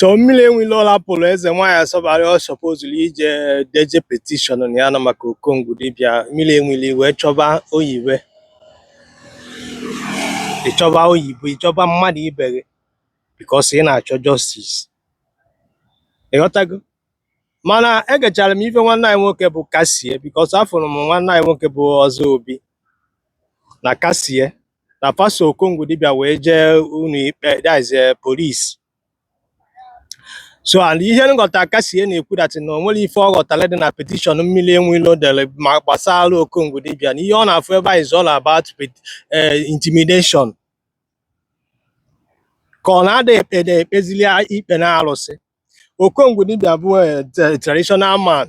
so mmiri enwe ilo lapụrụ eze nwaanyị asọbara ọ sọpozuru ije deje petishọn na ya na maka okongwu dibịa mmiri enwe ilo ị wee chọba oyiwe ịchọba oyibo ịchọba mmadụ ibe gị bikos ị na-achọ jọstis ị ghọtago mana egechara m ife nwanne anyị nwoke bụ kasie bikos afụrụ m nwanne anyị nwoke bụ ọzọ obi na kasie na fa so okongwu dibịa wee jee ụlọ ikpe that is polisi so and ihe m ghọta kasie na-ekwu that na o nwere ife ọ ghọtara dị na petishọn mmiri enwe ilo dere ma gbasara okongwu dibịa na ihe ọ na-afụ ebe a is all about pet- eh, intimidation ka ọ na-ada ekpe na-ekpezili ikpe na arụsị okongwu dibịa bụ eh, tra- traditional man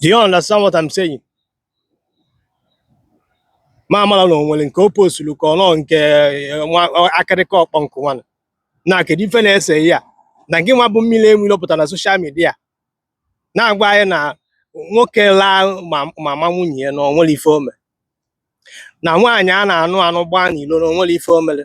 Do you understand what I'm saying? ma amara na o nwere nke o posturu ka ọ nọ nke eh, nwa ọ- akịrịka ọkpọ nkụ nwanụ na kedu ife na-ese ya na gị nwa bụ mmiri enwe ilo pụta na soshal midia na-agwa anyị na nwoke laa mama nwunye ya na o nwere ife o mere na nwaanyị a na-anụ anụ gbaa n'ilo na o nwere ife o mere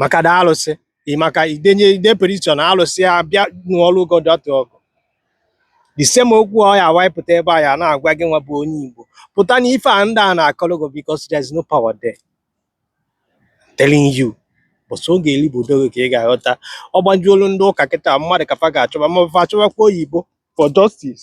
maka da alụsị maka idenye ide petishọn alụsị ya bịa nụọrụ godu that ọgụ the same okwu ọ ya why ị pụta ebe a ya na-agwa gị nwa bụ onye Igbo pụta na ife a ndị a na-akọrọ gị because there is no power there telling you bụ sọ oge eri bụ odogo ka ị ga-aghọta ọ gbajuolu ndị ụka kịta mmadụ ka fa ga-achọba ma fa achọbakwa oyibo for justice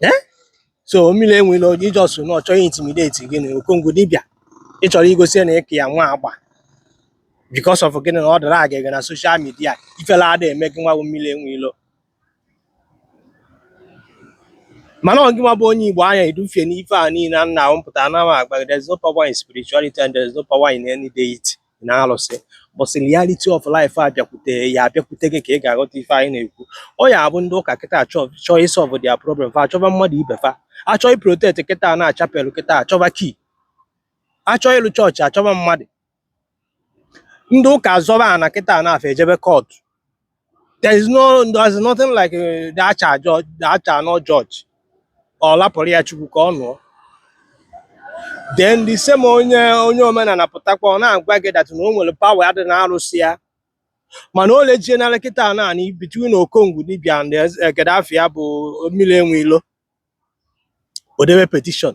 eh? so mmiri enwe ilo is just na ọ chọ ị intimidate gị na okongwu dibịa ị chọrọ igosi na ị ka ya nwa agba because of gịnị na ọ dara aga gị na soshal midia ifele ada eme gị nwa bụ mmiri enwe ilo mana ọ gị nwa bụ onye igbo a na-edufie n'ife a niile a na-ahụ m pụtara na ama agba there's no power in spirituality and there's no power in any deity na arụsị but reality of life abịakwute ya abịakwute gị ka ị ga-aghọta ife anyị na-ekwu ọ ya bụ ndị ụka kịta chọọ ịsọlvụ dia problem fa achọba mmadụ ibe fa achọ iprotect kịta na chapelụ kịta achọba kii achọ ịlụ chọọchị achọba mmadụ ndị ụka azọba ana kịta na fa ejebe kọtụ There is no there is nothing like uh, thou shall judge, thou shall not judge. Or lapụrụ ya Chukwu ka ọ nụọ. Then the same onye onye omenala pụtakwa ọ na-agwa gị that na o nwere power dị na arụsị ya. Mana o luzie na kịta a naanị between Okongwu dibịa and Eze- eh, Gaddafi ya bụ mmiri enwe ilo. O debe petition.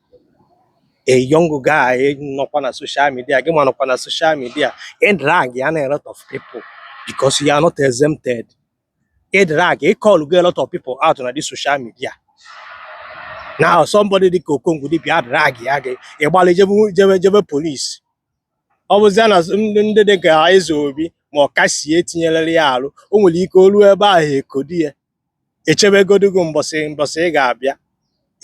a young guy nọkwa na social media gịwa nọkwa na social media ị dragana a lot of people because you are not exempted ị drag ị callgo a lot of people out na this social media now somebody dị ka okongwu dibịa drag gị gị ịgbalị jebe polisi ọ bụzia na ndị dị ka eze obi ma ọ kasie etinyelere ya arụ o nwere ike o luo ebe ahụ ekodi ya echebegodu gị mbọsị ị ga-abịa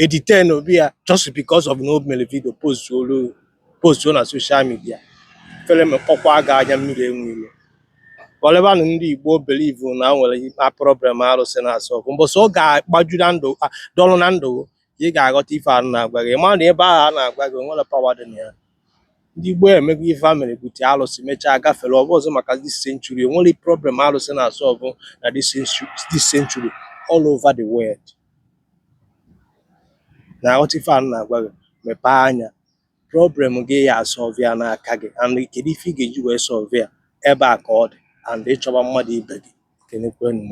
edetain obi ya just because of na o mere video postuolu postuo na social media fere mekpọkwa gị anya mmiri enwe ilo ọlebanụ ndị igbo belivu na o nwere problem arụsị na-asọlvụ mbọsị ọ ga-agbaju na ndụ a, dọlụ na ndụ gị, ị ga-aghọta ife a na-agwa gị ma na ebe ahụ a na-agwa gị o nwere pawa dị na ya Ndị gboo emego ife a mere bute alụsị mechaa gafere ọ bụrọzị maka this century o nwere problem alụsị na-asọlvụ na this century all over the world na-aghọta ife a na-agwa gị mepee anya problem gị ị ya-asọlvụ ya n'aka gị and kedu ife ị ga-eji wee sọlvụ ya ebe a ka ọ dị and ị chọba mmadụ ibe gị kenekwenụ m